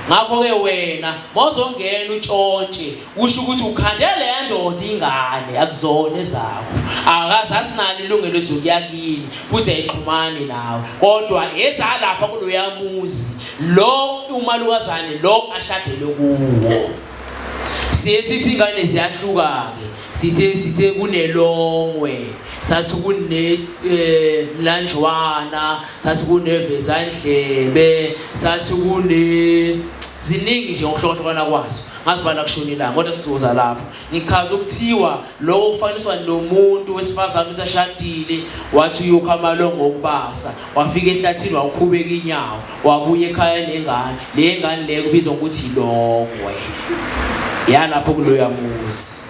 ngakho-ke wena mawuzongena utshontshe kusho ukuthi ukhande leya ndoda ingane akuzona ezakho akaze asinalo ilungelo ezokuya kini futhi ayixhumani nawe kodwa ezalapha kuloya muzi lo umalukazane lo ashadele kuwo siye sithi ingane ziyahluka-ke sithe sithe kunelongwe sathi kunemlanjwana eh, sathi kuneveza indlebe sathi kune ziningi nje ngokuhlokohlokana kwazo ngazibala kushona ilanga kodwa sizoza lapho ngichaza ukuthiwa lokho kufaniswa nomuntu wesifazane ukuthi ashadile wathi uyokha amalongo okubasa wafika ehlathini wawukhubeka inyawo wabuya ekhaya nengane le ngane le kubizwa ngokuthi ilongwe yalapho kuloya muzi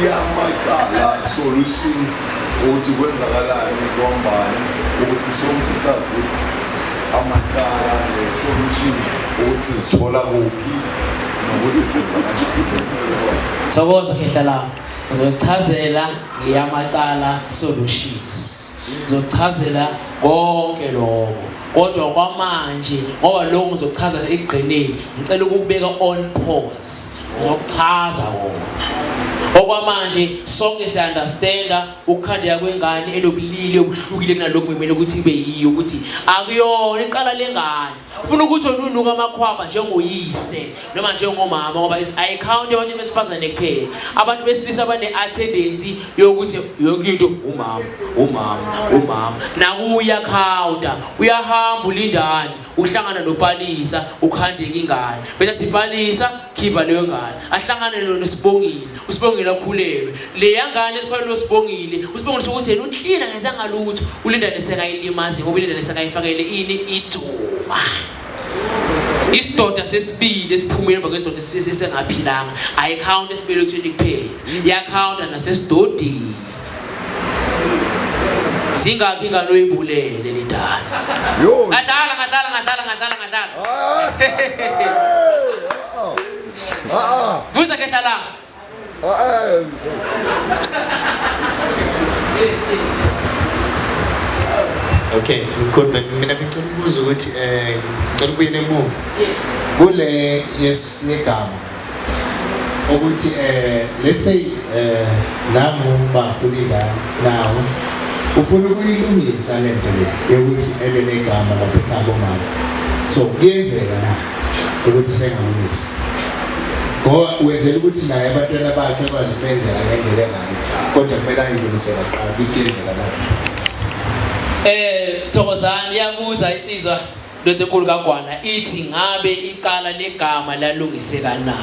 iyamaqala solutions ukuthi kwenzakalayo kuhambani ukuthi sonke sazi ukuthi amaqala ne-solutions ukuthi zithola kuphi nokuthi senza kanjani thokoza khehla lami ngizochazela ngeyamacala solutions ngizochazela konke lokho kodwa kwamanje ngoba lokho ngizochaza ekugqineni ngicela ukubeka on pause ngizokuchaza wona okwamanje sonke siyaunderstanda ukukhandeka kwengane enobulili obuhlukile kunalokhu kumele ukuthi ibe yiyo ukuthi akuyona iqala lengane ufuna ukuthi onunuka amakhwaba njengoyise noma njengomama ngoba ayikhawunti abantu besifazane kuphela abantu besilisa bane-attendency yokuthi yonke into umama umama umama nakuwe uyakhawunta uyahamba ulindane uhlangana nopalisa ukhandeka ingane bese athi palisa khipha leyo ngane ahlangane lona usibongile usibongile akhulelwe leya ngane esikhulelwe usibongile usibongile sokuthi yena uklina ngenza ngalutho ulindane sekayilimazi ngoba ilindane sekayifakele ini idzuma isidoda sesibili esiphumile emva kwesidoda sisengaphilanga ayikhawunti esibelethweni kuphela iyakhawunta nasesidodini zingakhi ingane oyibulele le ndala ngadlala ngadlala ngadlala ngadlala ngadlala buza ke hlalanga Okay, ngikhuluma mina ngicela ukubuza ukuthi eh ngicela ukubuye nemuva. Kule yesiyegama ukuthi eh let's say eh nami bafuna ingane nawo ufuna ukuyilungisa lento le yokuthi ebe negama lapha ekhaya bomama. So kuyenzeka na? ukuthi sengalungisa ngoba wenzela ukuthi naye abantwana bakhe kwazi ukubenzela ngendlela enayo kodwa kumele ayilungisela kuqala ukuthi kuyenzeka na eh thokozani iyabuza insizwa lento enkulu kagwana ithi ngabe iqala legama lalungiseka na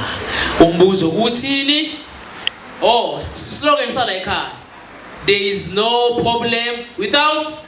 umbuzo ukuthini oh slogan sala ekhaya there is no problem without